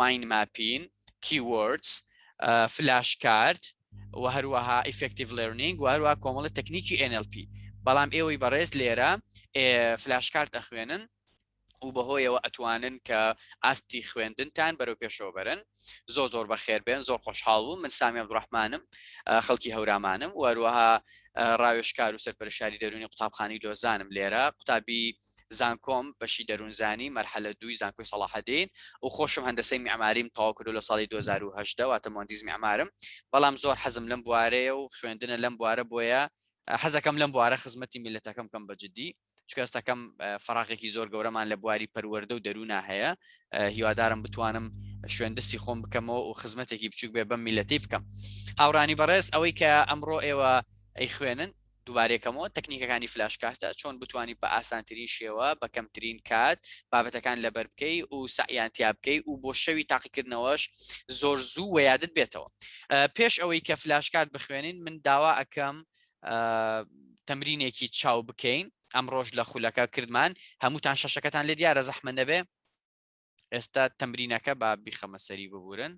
مایند ماپین، کیوەردز، فلاش کارد و هەروەها ئیفکتیڤ لێرنینگ و هەروە کۆمەڵە تەکنیکی NLP بەڵام ئێوەی بەڕێز لێرە فلاش کارت ئەخوێنن و بەهۆیەوە ئەتوانن کە ئاستی خوێندنتان بەرەو پێشەوە بەرن زۆ زۆر بەخێر بێن زۆر خۆشحاڵ بوو من سامی عبدڕحمانم خەڵکی هەورامانم وەروەها ڕاوێشکار و سەرپەرشاری دەرونی قوتابخانی لۆزانم لێرە قوتابی زانکۆم بەشی دەروونزانی مەرحەلە دووی زانکۆی سەڵاحەدین و خۆشم هەندەسەی میعماریم تەواو کردو لە ساڵی 2018 واتە مهندس میعمارم بەڵام زۆر حەزم لەم بوارەیە و خوێندنە لەم بوارە بۆیە حەزەکەم لەم بوارە خزمەتی میلەتەکەم بکەم بە جدی چکە ئێستاکەم فراغێکی زۆر گەورەمان لە بواری پەروەردە و دەرونا هەیە هیوادارم بتوانم شوێندەستی خۆم بکەمەوە و خزمەتێکی بچوک بێ بەم میلەتی بکەم هاورانی بەڕێز ئەوەی کە ئەمڕۆ ئێوە ئەی خوێنن دووبارەیەکەمەوە تەکنیکەکانی فلاش کارتە چۆن بتوانی بە ئاسانترین شێوە بە کەمترین کات بابەتەکان لەبەر بکەی و سەعیان تیا بکەی و بۆ شەوی تاقیکردنەوەش زۆر زوو و یادت بێتەوە پێش ئەوەی کە فلاش کارت بخوێنین من داوا ئەەکەم تەمرینێکی چاو بکەین ئەم ڕۆژ لە خولەکە کردمان هەمووتان شەشەکەتان لێ دیارە زەحمە نەبێ ئێستا تەمرینەکە با بیخەمە سەری ببورن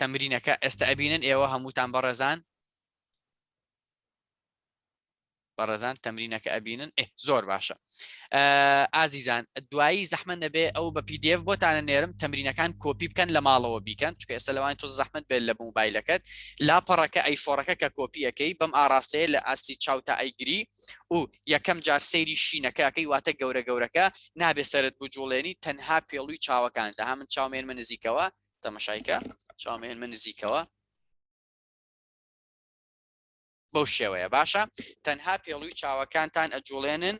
تەمرینەکە ئێستا ئەبینن ئێوە هەمووتان بەڕێزان بەڕێزان تەمرینەکە ئەبینن ئێ زۆر باشە ئازیزان دوایی زەحمە نەبێ ئەو بە پدF بۆتانە نێرم تەمرینەکان کۆپی بکەن لە ماڵەوە بیکەن چکە ئێستا لەوان تۆ زەحمت بێت لە موبایلەکەت لاپەڕەکە ئەیفۆڕەکە کە کۆپیەکەی بەم ئاراستەیە لە ئاستی چاوتا ئەیگری و یەکەم جار سەیری شینەکە ئەکەی واتە گەورە گەورەکە نابێ سەرت بجوڵێنی تەنها پێڵوی چاوەکان لە هەمن چاومێن من نزیکەوە تەمەشایکە چاومێن من نزیکەوە بەو شێوەیە باشە تەنها پێڵوی چاوەکانتان ئەجوڵێنن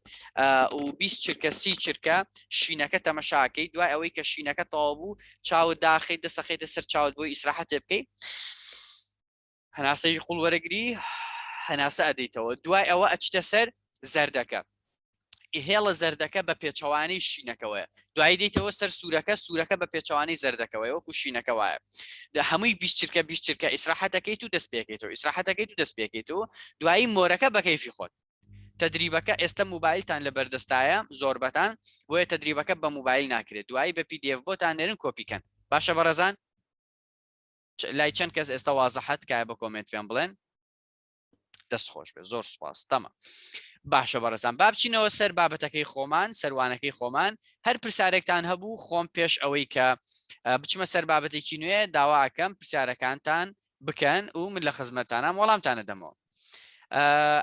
و 20 چرکە سی چرکە شینەکە تەمەشاکەی دوای ئەوەی کە شینەکە تەوا بوو چاو داخی دەسەخی دەسەر چاوت بۆی ئیسراحەتێ بکەیت هەناسەی قوڵ وەرەگری هەناسە ئەدەیتەوە دوای ئەوە ئەچتە سەر زەردەکە هێڵە زەردەکە بە پێچەوانەی شینەکەوەیە دوای دیتەوە سەر سوورەکە سوورەکە بە پێچەوانەی زەردەکەوەی وەکو شینەکە وایە لە هەمووی بیستچرکە بیستچرکە ئیسراحەتەکەیت و دەست پێکێتەوە ئیسراحەتەکەیت و دەست پێکێت و دوایی مۆرەکە بەکەیفی خۆت تدریبەکە ئێستا موبایلتان لە بەردەستایە زۆربەتان بۆیە تدریبەکە بە موبایل ناکرێت دوایی بە پی دیF بۆتان نێرن کۆپیکەن باشە بەڕێزان لای چەند کەس ئێستا وازە حەت کای بە کۆمنت پێم بڵێن دەست خۆش بێ زۆر سپاس تەمە باشە بەڕێزان بابچینەوە سەر بابەتەکەی خۆمان سەروانەکەی خۆمان هەر پرسیارێکتان هەبوو خۆم پێش ئەوەی کە بچمە سەر بابەتێکی نوێ داواکەم پرسیارەکانتان بکەن و من لە خزمەتانام وەڵامتانە دەمەوە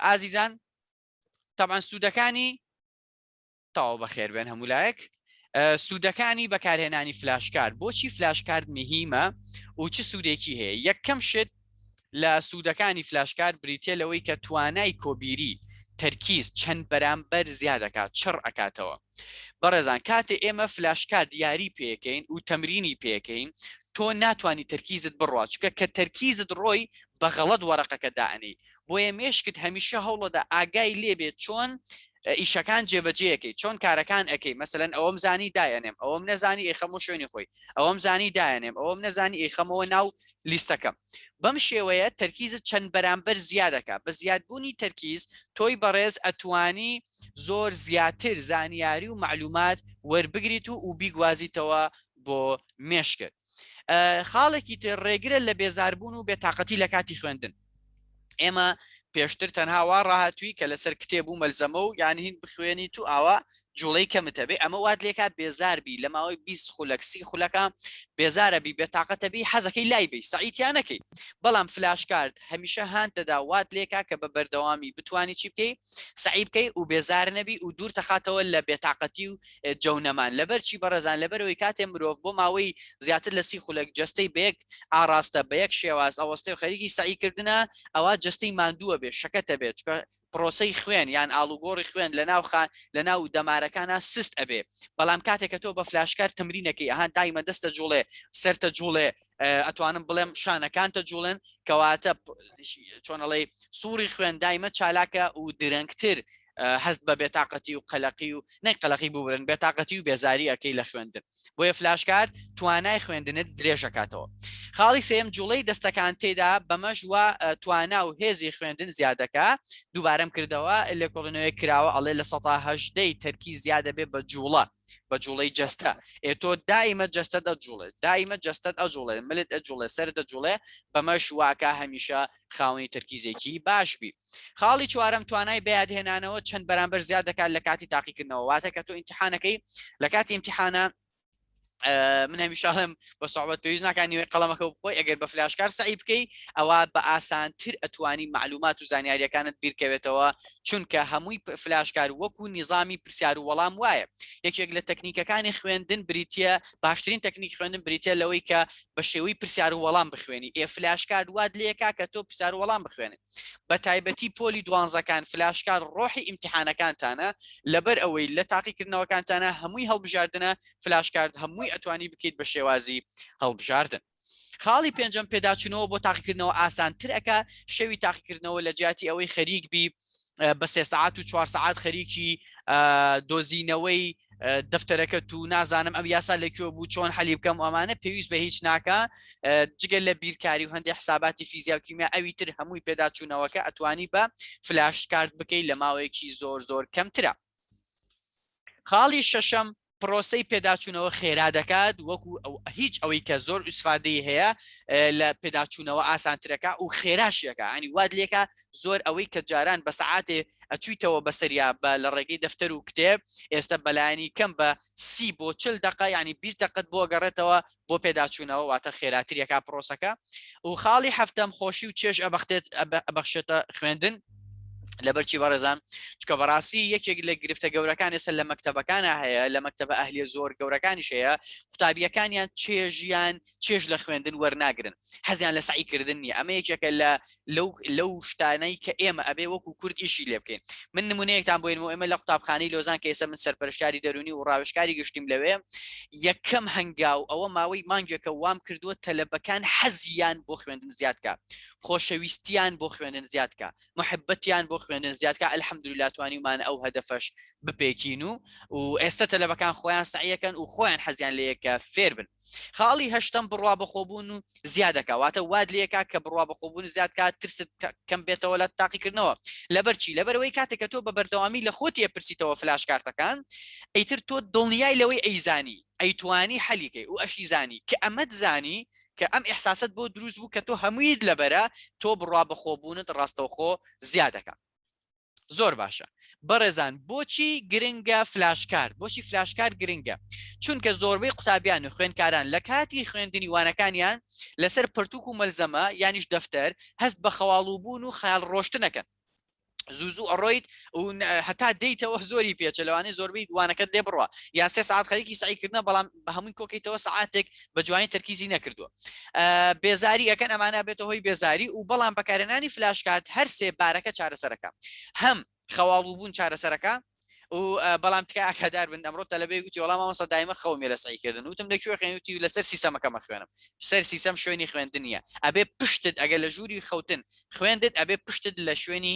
ئازیزان تەبان سوودەکانی تاو بەخێربێن هەمولایەک سوودەکانی بەکارهێنانی فلاشکار بۆچی فلاشکارد نهیمە و چ سوودێکی هەیە یەکەم شت لە سوودەکانی فلاشکار بریتە لەوەی کە توانای کۆبیری تەرکیز چەند بەرامبەر زیادەکات چڕ ئەکاتەوە بەڕێزان کاتێ ئێمە فلاشکار دیاری پێکەین و تەمرینی پێکەین تۆ ناتانی تەرکیزت بڕات چکە کە تەرکیزت ڕۆی بەغەڵت وەرەقەکە دائنی بۆیە مێشکت هەمیشە هەوڵەدا ئاگای لێبێت چۆن ئیشەکان جێبەجێ یەکەی چۆن کارەکان ئەەکەی مەسەن ئەوەم زانی دایەنێم ئەوەم نەزانی ئەی خەمە شوێنی خۆی ئەوەم زانی دایەنێم ئەوەم نەزانی ئەی خەمەوە ناو لیستەکەم بەم شێوەیە تەرکیزت چەند بەرامبەر زیادەکە بە زیادبوونی تەرکیز تۆی بەڕێز ئەتوانی زۆر زیاتر زانیاری و معلومات وەربگریت و و بیگوازیتەوە بۆ مێشکت خاڵێکی تر ڕێگرە لە بێزاربوون و بێتاقەتی لە کاتی خوێندن ئێمە پێشتر تەنها وا ڕاهاتوی کە لەسەر کتێب و مەلزەمە و یان هین بخوێنی تو ئاوا جوڵەی کەمتەبێ ئەمە وات لێکات بێزاربی لە ماوەی 20 خولەکسی خولەکە بێزارە بی بێ تااقەتەبی حەزەکەی لای بی سەعیتیانەکەی بەڵام فلاشکارد هەمیشە هاان دەدا وات لێکا کە بە بەردەوامی بتانی چی بکەی سعی بکەی و بێزار نەبی و دوور تەخاتەوە لە بێتاقەتی و جەونەمان لەبەرچی بەڕێزان لەبەرەوەی کاتێ مرۆڤ بۆ ماوەی زیاتر لە سی خولەک جستەی بێک ئاڕاستە بە یەک شێواز ئەوەستێ و خەریکی سعی کردنە ئەوە جستەی مادووە بێ شەکەتە بێت چکە پرۆسی خوێن یان ئالوگۆڕی خوێن لە ناوخان لە ناو دەمارەکانە سست ئەبێ بەڵام کاتێکە تۆ بە فلاشکار تمرینەکەی ئەهان دایمە دەستە جوڵێ سەرتە جوڵێ ئەتوانم بڵێم شانەکانتە جوڵێن کەواتە چۆنەڵی سوڕی خوێن دایمە چالاکە و درەنگتر هەست بە بێتاقەتی و قەلەقی و نەی قەلەقی ببرن بێتاقەتی و بێزاری ئەەکەی لە خوێندن بۆیە فلاشکارد توانای خوێندنت درێژەکاتەوە خاڵی سێم جوڵەی دەستەکان تێدا بەمەش وە توانا و هێزی خوێندن زیادەکە دووبارەم کردەوە لێکۆڵنەوەی کراوە ئەڵێ لە سەهدەی تەرکی زیادە بێ بە جوڵە بە جوڵەی جەستە ئێ تۆ دائیمە جەستە دەجوڵێت دائیمە جەستەت ئەجوڵێ ملت ئەجوڵێ سەر دەجوڵێ بەمەش واکە هەمیشە خاوەنی تەرکیزێکی باش بی خاڵی چوارم توانای بەیادهێنانەوە چەند بەرامبەر زیاد دەکات لە کاتی تاقیکردنەوە واتە کە تۆ ئیمتحانەکەی لە کاتی ئیمتحانە من هەمیشاڵم بە سوعبەت پێویست ناکان نیوەی قەڵەمەکە بخۆی ئەگەر بە فلاشکار سعی بکەی ئەوە بە ئاسانتر ئەتوانی معلومات و زانیاریەکانت بیرکەوێتەوە چونکە هەمووی فلاشکار وەکو نیظامی پرسیار و وەڵام وایە یەکێک لە تەکنیکەکانی خوێندن بریتە باشترین تەکنیک خوێندن بریتە لەوەی کە بە شێوەی پرسیار و وەڵام بخوێنی ئێ فلاش کارد واد لێکا کە تۆ پرسیار و وەڵام بخوێنێت بە تایبەتی پۆلی دوانزەکان فلاش کار ڕۆحی ئیمتحانەکانتانە لەبەر ئەوەی لە تاقیکردنەوەکانتانە هەمووی هەڵبژاردنە فلاش کارد هەمووی ئەتوانی بکەیت بە شێوازی هەڵبژاردن خاڵی پێنجەم پێداچوونەوە بۆ تاقیکردنەوە ئاسانتر ئەک شەوی تاقیکردنەوە لە جیاتی ئەوەی خەریک بی بە سێ سعات و چوار سعات خەریکی دۆزینەوەی دەفتەرەکە تو نازانم ئەم یاسا لەکوێ بوو چۆن حەلی بکەم ئەمانە پێویست بە هیچ ناکە جگەل لە بیرکاری و هەندێک حساباتی فیزیا و کیمیا ئەوی تر هەمووی پێداچوونەوەکە ئەتوانی بە فلاش کارت بکەیت لە ماوەیەکی زۆر زۆر کەمترە خاڵی شەشەم پرۆسەی پێداچوونەوە خێرا دەکات وەکو هیچ ئەوەی کە زۆر ئوسفادەی هەیە لە پێداچوونەوە ئاسانترەکە و خێراشیەکە ئەنی واد لێکە زۆر ئەوەی کە جاران بە سعاتێ ئەچویتەوە بەسەریا بە لە ڕێگەی دەفتەر و کتێب ئێستا بەلایانی کەم بە سی بۆ چل دقه ینی 20 دقت بۆ گەڕێتەوە بۆ پێداچوونەوە واتە خێراتری ئەکا پرۆسەکە و خاڵی هەفتەم خۆشی و چێژ ئەبختێت ئەبەخشێتە خوێندن لەبەرچی بەڕێزان چکە بەڕاستی یەکێک لە گرفتە گەورەکان ئێستا لە مەکتتەبەکانە هەیە لە مەکتتەبە ئەهلیە زۆر گەورەکانی شەیە قوتابیەکانیان چێژیان چێژ لە خوێندن وەرناگرن حەزیان لە سعیکردن نیە ئەمە یەکێکە لە لەو لەو شتانەی کە ئێمە ئەبێ وەکو کورد ئیشی لێ بکەین من نمونەیەکتان بۆین و ئێمە لە قوتابخانەی لۆزان کە ئێستا من سەرپەرشتاری دەرونی و ڕاوشکاری گشتیم لەوێ یەکەم هەنگاو ئەوە ماوەی مانگێکە وام کردووە تەلەبەکان حەزیان بۆ خوێندن زیادکە خۆشەویستیان بۆ خوێندن زیادکە محبەتیان بۆ خوێندن زیادکە ئەلحەمدولا توانیمان ئەو هەدەفەش بپێکین و و ئێستا تەلەبەکان خۆیان سعیەکەن و خۆیان حەزیان لەیەکە فێر بن خاڵی هەشتەم بڕوا بەخۆبوون و زیادەکە واتە واد لەکە کە بڕوا بەخۆبوون زیاد کات ترست کەم بێتەوە لە تاقیکردنەوە لەبەرچی لەبەرەوەی کاتێککە تۆ بە بەردەوامی لە خۆت ئەپرسیتەوە فلاش کارتەکان ئەیتر تۆ دڵنیای لەوەی ئەیزانی ئەیتوانی حەلیکەی و ئەشی زانی کە ئەمەد زانی کە ئەم ئحساست بۆ دروست بوو کە تۆ هەموویت لەبەرە تۆ بڕوا بەخۆبوونت ڕاستەوخۆ زیادەکە زۆر باشە بەڕێزان بۆچی گرنگە فلاشکار بۆچی فلاشکار گرنگە چونکە زۆربەی قوتابیان و خوێندکاران لە کاتی خوێندنی وانەکانیان لەسەر پرتوک و مەلزەمە یانیش دەفتەر هەست بە خەواڵوبوون و خەیاڵ ڕۆشتنەکەن زوزو ئەڕۆیت و هەتا دەیتەوە زۆری پێچە لەوانەیە زۆربەی دوانەکەت لێ بڕە یاسێ ساعت خەریکی سعیکردە بەڵام بە هەمووی کۆکەیتەوە ساعتێک بە جوانی تەرکیزی نەکردووە بێزاری ئەەکەن ئەمانە بێتە هۆی بێزاری و بەڵام بەکارێنانی فلاش کات هەر سێ بارەکە چارەسەرەکە هەم خەواڵ و بوون چارەسەرەکە و بەڵام تکە ئاکادار بن ئەمڕۆ تەلبێ گوتی وەڵام ئەوسە دایمە خەومێ لە سعیکردن وتم لە کوێ خوێنوتی لەسەر سیسەمەکەمە خوێنم سەر سیسەم شوێنی خوێندنیە ئەبێ پشتت ئەگەر لە ژووری خەوتن خوێندت ئەبێ پشتت لە شوێنی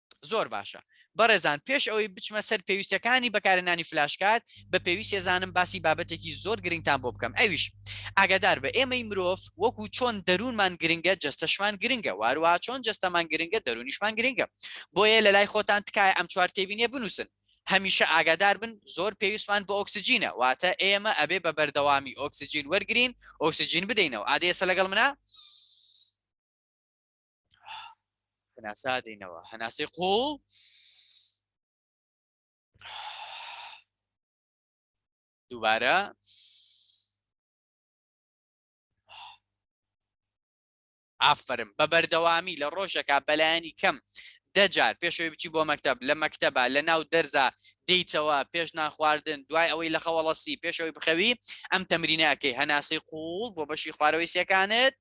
زۆر باشە بەڕێزان پێش ئەوەی بچمە سەر پێویستەکانی بەکارێنانی فلاشکات بە پێویست ێزانم باسی بابەتێکی زۆر گرنگتان بۆ بکەم ئەویش ئاگادار بە ئێمەی مرۆڤ وەکو چۆن دەروونمان گرنگە جستەشمان گرنگە وارووا چۆن جستەمان گرنگە دەرونیشمان گرنگە بۆیە لە لای خۆتان تکایە ئەم چوار تێبینێ بنووسن هەمیشە ئاگادار بن زۆر پێویستمان بۆ ئۆکسسیجینە واتە ئێمە ئەبێ بە بەردەوامی ئۆکسسیجین وەرگین ئۆکسسیجین بدەینەوە ئادێسە لەگەڵ منە؟ هەناسە دەینەوە هەناسەی قوڵ دووبارە ئافرم بە بەردەوامی لە ڕۆژەکە بەلایەنی کەم دەجار پێشەوەی بچی بۆ مەکتب لە مەکتتەبە لە ناو دەرزە دیتەوە پێش ناخواردن دوای ئەوەی لە خەوەڵەسی پێشەوەی بخەوی ئەم تەمرینەکەی هەناسەی قوڵ بۆ بەشی خوارەوەی سەکانت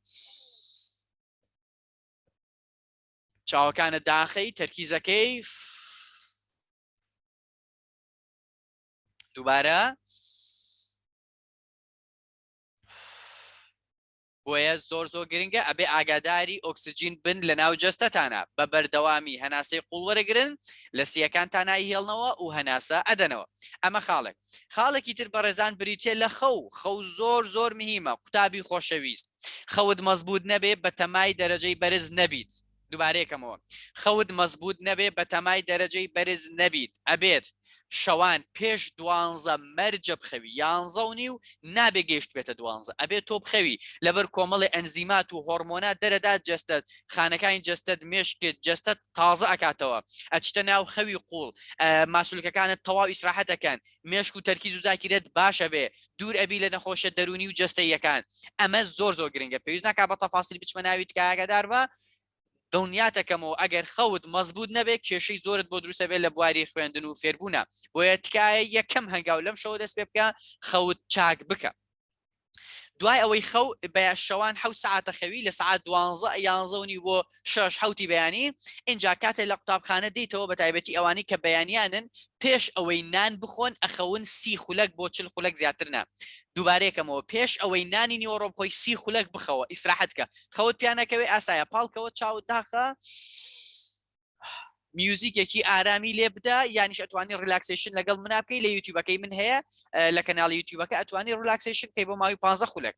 چاوەکانە داخەی تەرکیزەکەی دووبارە بۆیە زۆر زۆر گرنگە ئەبێ ئاگاداری ئۆکسسیجین بن لە ناو جەستەتانە بە بەردەوامی هەناسەی قوڵ وەرەگرن لە سیەکان تانایی هێڵنەوە و هەناسە ئەدەنەوە ئەمە خاڵێک خاڵێکی تر بەڕێزان بریتە لە خەو خەو زۆر زۆر مهمە قوتابی خۆشەویست خەوت مەزبوط نەبێ بە تەمای دەرەجەی بەرز نەبیت دوبارەیەکەمەوە خەوت مەزبوط نەبێ بە تەمای دەرەجەی بەرز نەبیت ئەبێت شەوان پێش دوانزە مەرجە بخەوی یانزە و نیو نابێ گەشت بێتە دوانزە ئەبێت تۆ بخەوی لەبەر کۆمەڵی ئەنزیمات و هۆرمۆنا دەرەدات جەستەت خانەکانی جەستەت مێشکت جەستەت تازە ئەکاتەوە ئەچیتە ناو خەوی قوڵ ماسولکەکانت تەواو ئیسراحەتەکەن مێشک و تەرکیز و زاکیرت باشە بێ دوور ئەبی لە نەخۆشە دەرونی و جستەیەکان ئەمە زۆر زۆر گرنگە پێویست ناکە بە تەفاسیل بچمە ناوی تکایەگەدار بە دڵنیاتەکەمەوە ئەگەر خەوت مەزبوط نەبێت کێشەی زۆرت بۆ دروستە بێت لە بواری خوێندن و فێربوونا بۆیە تکایە یەکەم هەنگاو لەم شەوە دەست پێ بکە خەوت چاک بکە دوای ئەوەی خەو بە شەوان حوت سعاتە خەوی لە سعات دوانزە یانزەونی بۆ شش حوتی بەیانی اینجا کاتێ لە قوتابخانە دیتەوە بە تایبەتی ئەوانی کە بەیانیانن پێش ئەوەی نان بخۆن ئەخەون سی خولەک بۆ چل خولەک زیاترنا دووبارەیەکەمەوە پێش ئەوەی نانی نیوەڕۆ خۆی سی خولەک بخەوە ئیسراحەتکە خەوت پیانەکەوێ ئاسایە پاڵکەوە چاو داخە میوزیکێکی ئارامی لێ بدا یانیش ئەتوانی ریلاکسیشن لەگەڵ منا بکەی لە یوتیوبەکەی من هەیە لە کەناڵ یوتیوبەکە ئەتوانی ریلاکسیشن کەی بۆ ماوی پ خولک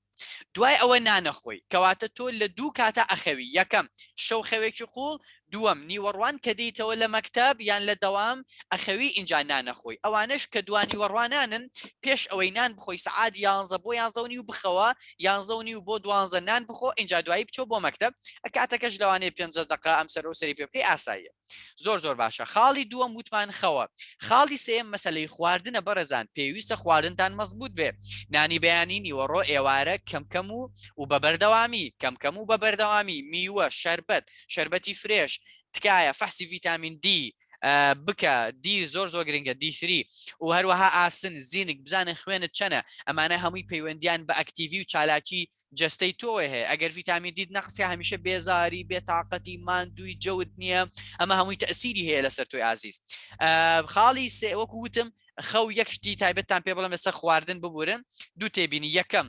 دوای ئەوە نانەخۆی کەواتە تۆ لە دوو کاتە ئەخەوی یەکەم شەو خەوێکی قوڵ دووەم نیوەڕوان کە دیتەوە لە مەکتب یان لە دەوام ئەخەوی ئینجا نانەخۆی ئەوانش کە دوانی وەڕوانانن پێش ئەوەی نان بخۆی سعاد یانزە بۆ یانزەونی و بخەوە یانزە و نیو بۆ دوانزە نان بخۆ ئینجا دوایی بچۆ بۆ مەکتب کاتەکەش لەوانەیە پێنجە دقە ئەم سەر و سەری پێ بکەی ئاساییە زۆر زۆر باشە خاڵی دووەم وتمان خەوە خاڵی سێم مەسلەی خواردنە بەڕێزان پێویستە خواردنتان مەزبوط بێ نانی بەیانی نیوەڕۆ ئێوارە کەم کەم و و بە بەردەوامی کەم کەم و بە بەردەوامی میوە شەربەت شەربەتی فرێش تکایە فەحسی ڤیتامین دی بکە دی زۆر زۆر گرنگە دیسری و هەروەها ئاسن زیینک بزانە خوێنت چەنە ئەمانە هەمووی پەیوەندیان بە ئەکتیڤی و چالاکی جستەی تۆی هەیە ئەگەر ڤیتامی دیت نەقسیە هەمیشە بێزاری بێتاقەتی مادووی جەوت نییە ئەمە هەمووی تەسیری هەیە لەسەر تۆی ئازیز خاڵی سێوەکو وتم خەو یەک شتی تایبەتتان پێ بڵم لەسەر خواردن ببورن دوو تێبینی یەکەم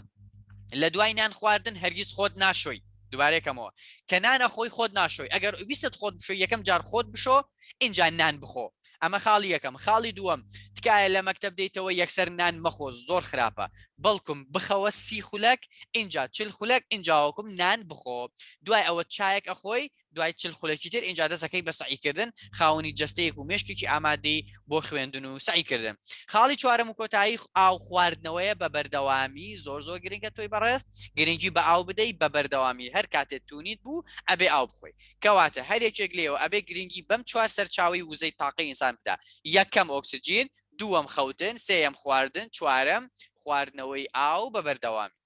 لە دوای نان خواردن هەرگیز خۆت ناشۆی دوبارێکەمەوە کە نانە خۆی خۆت ناشۆی ئەگەر ویستت خۆت بشۆ یەکەم جار خۆت بشۆ اینجا نان بخۆ ئەمە خاڵی یەکەم خاڵی دووەم تکایە لە مەکتب دەیتەوە یەکسەر نان مەخۆ زۆر خراپە بەڵکم بخەوە سی خولەک اینجا چل خولەک اینجاوەکم نان بخۆ دوای ئەوە چایەک ئەخۆی دوای چل خولەکی تر ئینجا دەسەکەی بە سعیکردن خاونی جستەیەک و مشکێکی ئامادەی بۆ خوێندن و سعیکردن خاڵی چوارم و کۆتایی ئاو خواردنەوەیە بە بەردەوامی زۆر زۆر گرنگە تۆی بەڕێست گرنگی بە ئاو بدەیت بە بەردەوامی هەر کاتێت تونیت بوو ئەبێ ئاو بخۆی کەواتە هەر یەکێک لێەوە ئەبێ گرنگی بەم چوار سەرچاوی وزەی تاقی ئینسان بدا یەکەم ئۆکسسیجین دووەم خەوتن سێەم خواردن چوارم خواردنەوەی ئاو بە بەردەوامی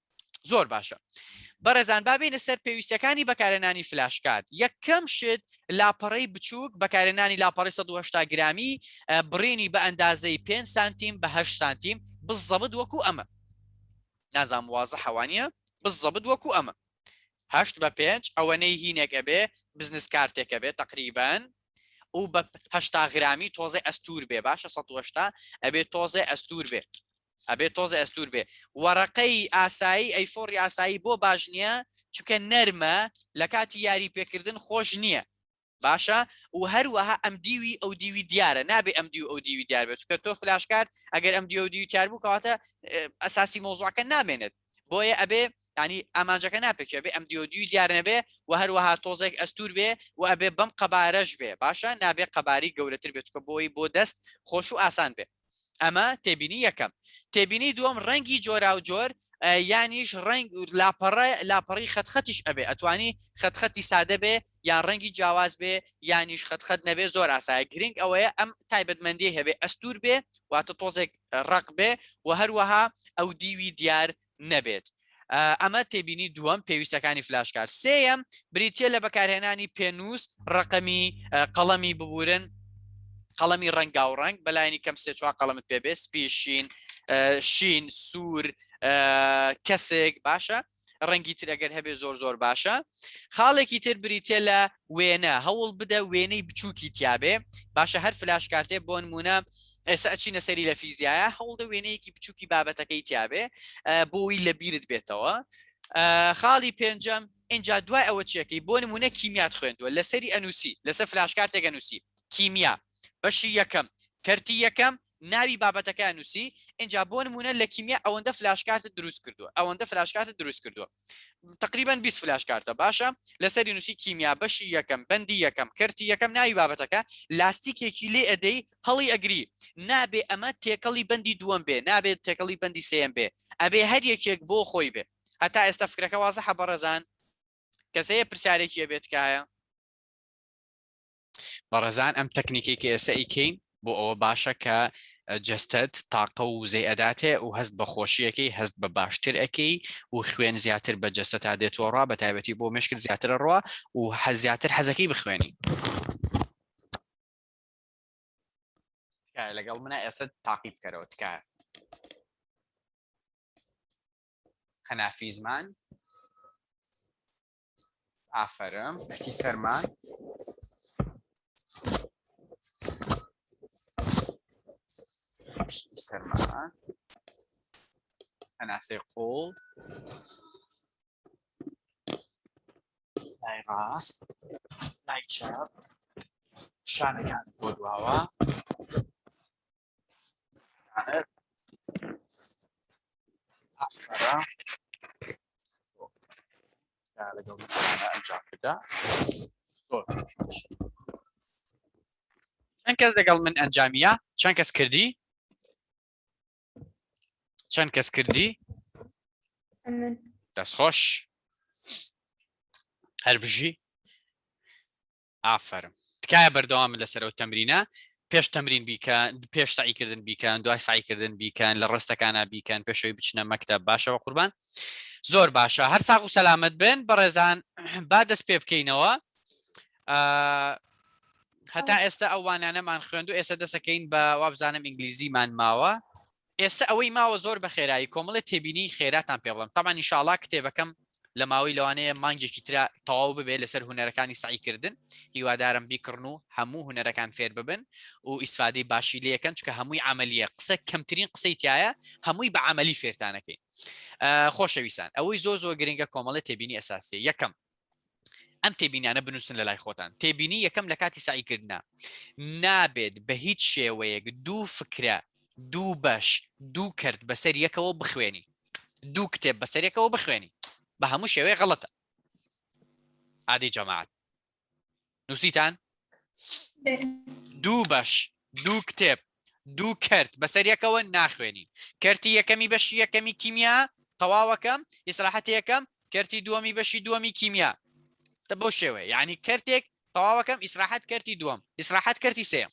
زۆر باشە بەڕێزان بابینە سەر پێویستەکانی بەکارێنانی فلاشکات یەکەم شت لاپەڕی بچووک بەکارێنانی لاپەڕی 1970 گرامی بڕینی بە ئەندازەی 5 سانتیم بە 8 سانتیم بزەبت وەکو ئەمە نازام وازە حەوانە بزەبت وەکو ئەمە هەشت بە پێنج ئەوەنەی هینێک ئەبێ بزنس کارتێکە بێت تقریبان و بەهشتا گرامی تۆزێ ئەستور بێ باشە 1970 ئەبێت تۆزێ ئەستور بێت ئەبێ تۆزە ئەستور بێ وەڕەقەی ئاسایی ئەی فۆڕی ئاسایی بۆ باش نییە چکە نەرمە لە کاتی یاری پێکردن خۆش نییە باشە و هەروەها ئەم دیوی ئەو دیوی دیارە نابێ ئەم دیو ئەو دیوی دیار بێت چکە تۆ فلاشکات ئەگەر ئەم دیو دیو تیار بوو کەواتە ئەساسی مۆزوعەکە نامێنێت بۆیە ئەبێ ینی ئامانجەکە ناپێکێ بێ ئەم دیۆ دوی دیار نەبێ و هەروەها تۆزێک ئەستور بێ و ئەبێ بەم قەبارەش بێ باشە نابێ قەباری گەورەتر بێت چکە بۆی بۆ دەست خۆش و ئاسان بێ ئەمە تێبینی یەکەم تێبینی دووەم ڕەنگی جۆرا و جۆر یانیش ڕنگ لاپەڕە لاپەڕی خەتخەتیش ئەبێ ئەتوانی خەتخەتی سادە بێ یان ڕەنگی جیاواز بێ یانیش خەت خەت نەبێ زۆر ئاسایە گرنگ ئەوەیە ئەم تایبەتمەندی هەبێ ئەستور بێ واتە تۆزێک ڕق بێ و هەروەها ئەو دیوی دیار نەبێت ئەمە تێبینی دووەم پێویستەکانی فلاشکار سێەم بریتە لە بەکارهێنانی پێنووس ڕقەمی قەڵەمی ببورن قەڵەمی ڕەنگا و ڕنگ بەلایەنی کەم سێ چوار قەڵمت پێبێ سپیشین شین سوور کەسێک باشە ڕەنگی تر ئەگەر هەبێ زۆر زۆر باشە خاڵێکی تر بریتە لە وێنە هەوڵ بدە وێنەی بچووکی تیاابێ باشە هەر فلاش کارتێ بۆن مونە ئێستا ئەچینە سەری لە فیزیایە هەوڵدە وێنەیەکی بچووکی بابەتەکەی تیاابێ بۆی لە بیرت بێتەوە خاڵی پێنجەم اینجا دوای ئەوە چیەکەی بۆ نمونە کیمیات خوێندووە لەسەری ئەنووسی لەسەر فلاشکارتێک ئەنووسی کیمیا بەشی یەکەم کەرتی یەکەم ناوی بابەتەکەیان نووسی ئینجا بۆ نمونە لە کیمیا ئەوەندە فلاش کارتە دروست کردووە ئەوەندە فلاش کارتە دروست کردووە تقریبا 20 فلاش کارتە باشە لەسەری نووسی کیمیا بەشی یەکەم بەندی یەکەم کەرتی یەکەم ناوی بابەتەکە لاستیکێکی لێ ئەدەی هەڵی ئەگری نابێ ئەمە تێکەڵی بەندی دووەم بێ نابێت تێکەڵی بەندی سم بێ ئەبێ هەر یەکێک بۆ خۆی بێ هەتا ئێستا فکرەکە وازە حەبەڕەزان کەسەیە پرسیارێکی ئەبێت کایە بەڕێزان ئەم تەکنیکی کە ئێستا ئیکەین بۆ ئەوە باشە کە جستت تاقە و وزەی ئەداتێ و هەست بە خۆشیەکەی هەست بە باشتر ئەەکەی و خوێن زیاتر بە جستە تا دێتەوە ڕا بە تایبەتی بۆ مشکل زیاتر ڕوە و حە زیاتر حەزەکەی بخوێنی لەگەڵ منە ئێستا تاقی بکەرەوە تکایە خەنافی زمان ئافەرم شتی سەرمان شتی سەرمان هەناسەی قوڵ لای ڕاست لای چاپ شانەکان بۆ دواوە لەگەڵ ئەنجام بدا چەند کەس لەگەڵ من ئەنجامیە چەند کەس کردی چەند کەس کردی دەستخۆش هەربژی ئافەرم تکایە بەردەوامن لەسەر ئەو تەمرینە پێش تەمرین بیکە پێش سعیکردن بیکەن دوای سعیکردن بیکەن لە ڕستەکانە بیکەن پێشەوەی بچنە مەکتە باشەوە قوربان زۆر باشە هەر ساق و سەلامت بن بەڕێزان با دەست پێ بکەینەوە هەتا ئێستا ئەوانانەمان خوێندو ئێستا دەسەکەین بە وابزانم ئینگلیزیمان ماوە ئێستە ئەوەی ماوە زۆر بەخێرایی کۆمەڵێ تێبینیی خێراتان پێ بڵێم، تەبعەن ئینشائەڵا کتێبەکەم لە ماوەی لەوانەیە مانگێکی ترا تەواو ببێ لەسەر هونەرەکانی سەعی کردن، هیوادارم بیکڕن و هەموو هونەرەکان فێر ببن و ئیسفادەی باشی لێ کەن، چونکە هەمووی عەمەلییە، قسە کەمترین قسەی تیایە، هەمووی بە عەمەلی فێرتان ئەکەین. خۆشەویستان، ئەوەی زۆر زۆر گرنگە کۆمەڵێ تێبینی ئەساسییە، یەکەم، ئەم تێبینانە بنووسن لە لای خۆتان تێبینی یەکەم لە کاتی سعیکردە نابێت بە هیچ شێوەیەک دوو فکرە دوو بەش دوو کرد بەسەر یەکەوە بخوێنی دوو کتێب بەسەرێکەوە بخوێنی بە هەموو شێوەیە غڵەتە عادی جەماعات نووسیتان دوو بەش دوو کتێب دوو کرد بەسەر یەکەوە ناخوێنین کەرتی یەکەمی بەشی یەکەمی کیمیا تەواوەکەم ئیسراحەت یەکەم کەرتی دووەمی بەشی دووەمی کیمیا تە بۆ شێوەیە یعنی کەرتێک تەواوەکەم ئیسراحەت کەرتی دووەم ئیسراحەت کەرتی سێم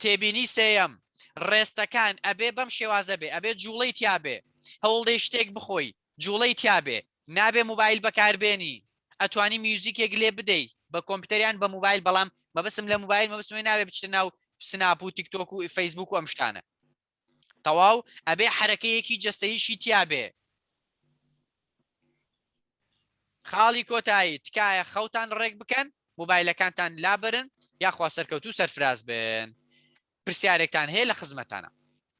تێبینی سێیەم، ڕێستەکان ئەبێ بەم شێوازە بێ، ئەبێ جووڵەی تیا بێ، هەوڵدەی شتێک بخۆی جووڵەی تیا بێ، نابێ موبایل بەکار بێنی، ئەتوانی میوزیکێک لێ بدەی بە کۆمپیوتەر یان بە موبایل بەڵام مەبەستم لە موبایل مەبەستم ئەوەیە نابێ بچیتە ناو سناپ و تیکتۆک و فەیسبووک و ئەم شتانە. تەواو ئەبێ حەرەکەیەکی جەستەیشی تیابێ. خاڵی کۆتایی تکایە خەوتان ڕێک بکەن موبایلەکانتان لابرن یاخوا سەرکەوتو سەرفراز بن پرسیارێکتان هەیە لە خزمەتانە.